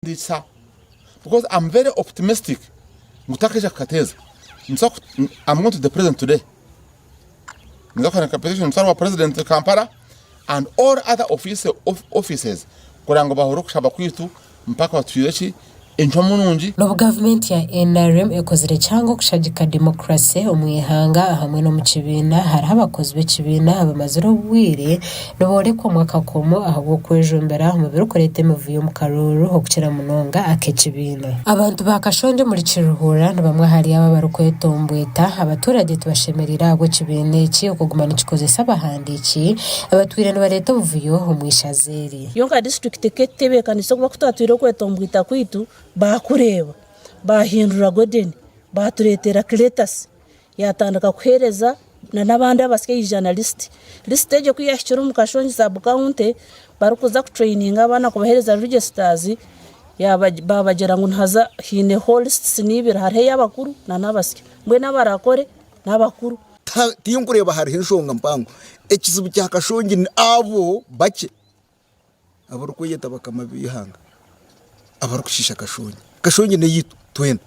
Nindiisa because I'm very optimistic ngu takaija kukateeza. I'm going to the president today. Ninza kuheereza petition nitware owa president Kampala and all other offices kugira ngu bahure okushaba kwaitu mpaka batuhwire eki, encwamu nungi. N'obu gavumenti ya nrm ekozire kyanga okushagika demokurase omu ihanga hamwe n'omu kibiina, hariho abakozi b'ekibiina abamazire obwire Niboorekwa omu akakomo ahabw'okwejumbira omu birikureeta emivuyo omu karooro okukira munonga ak'ekibiina. Abantu ba Kashonda omuri Kiruhura ni bamwe ahari abo abarikwetomboita. Abatuurage tibashemereire ahabw'ekibiina eki okuguma nikikozesa abahandiiki abatwire nibareeta obuvuyo omu ishaza eri. Yo nka disiturikiti ku erikutebeekanisa oku barikutatwira okwetomboita kwaitu, baakureeba baahindura Godeni baatureetera Kiletasi Yaatandika kuheereza n'abandi abasyo aija na lisiti. Lisiti egyo ku yaahikire omu kashongi saabukawunti, barikuza kutureyininga abaana kubaheereza rijesitaazi, baabagira ngu nihaza haineho lisitisi ibiri, hariho ey'abakuru n'abasyo. Mbwenu abarakore n'abakuru. Tinkureeba hariho enshonga mpango. Ekizibu kya kashongi n'abo bakye. abarikweyeta bakama b'eihanga abarikushiisha Kashongi. Kashongi n'eyaitu twena,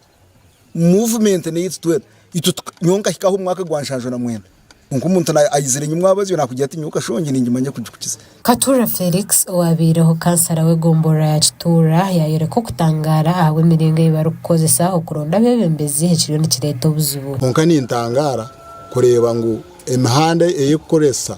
muvumenti n'eyaitu twena. Itwe tuka, nyowe nkahika aha omwaka gwa nshanju na mwenda, kwonka omuntu na aizire enyima abazyo naakugira ati nyowe Kashongi ningimanya kugi kukiza. Katuura Felix owaabaireho kansara w'egomborora ya Kituura yaayoreka okutangaara ahabw'emiringo ei barikukozesa okuronda abeebembezi ekiriyo nikireeta obuzibu. Kwonka nintangaara kureeba ngu emihanda ei kukoresa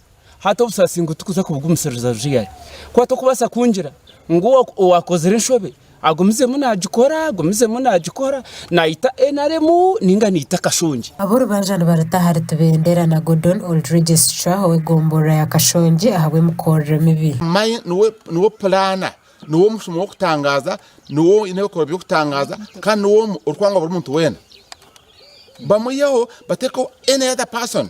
Hati obusasi ngu tikuza kubugumisiriza buza ihari. Kuba tokubaasa kungira ngu owaakozire enshobe agumizemu naagikora, agumizemu naagikora, naayita nrm nainga naayita Kashongi. Ab'orubanja nibaruta ahari Tibendera na Gordon Oldridge Sichwa ow'egomboloora ya Kashongi ahabw'emikorere mibi. Mai niwe pulaana, niwe omushuma w'okutangaaza, niwe oine ebikorwa by'okutangaaza kandi niwe omwe orikwangwa buri muntu weena. Bamwiheho batekeho any other person.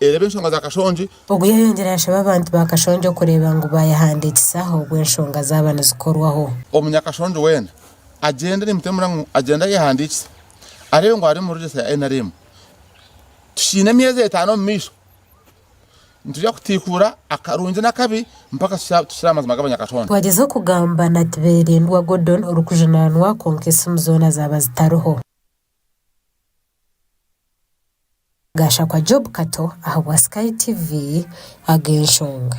Reeba enshonga za Kashongi. Ogu yayongyire yashaba abantu ba Kashongi okureeba ngu baayehandikisaho obu enshonga zaaba nizikorwaho. Omunyakashongi weena agyende nimutemura ngu agyende ayehandiikise areebe ngu ari omu regesta ya nrm. Tukiine emyezi etaano omu maisho. Nitwija kutiikuura akarungi n'akabi mpaka tukire aha mazima g'Abanyakashongi. Twagyezaho kugamba na Tibeerendwa Gordon orikujunaanwa kwonka esimu zoona zaaba zitariho. Gashakwa Job Kato ahabwa Sky TV ago enshonga.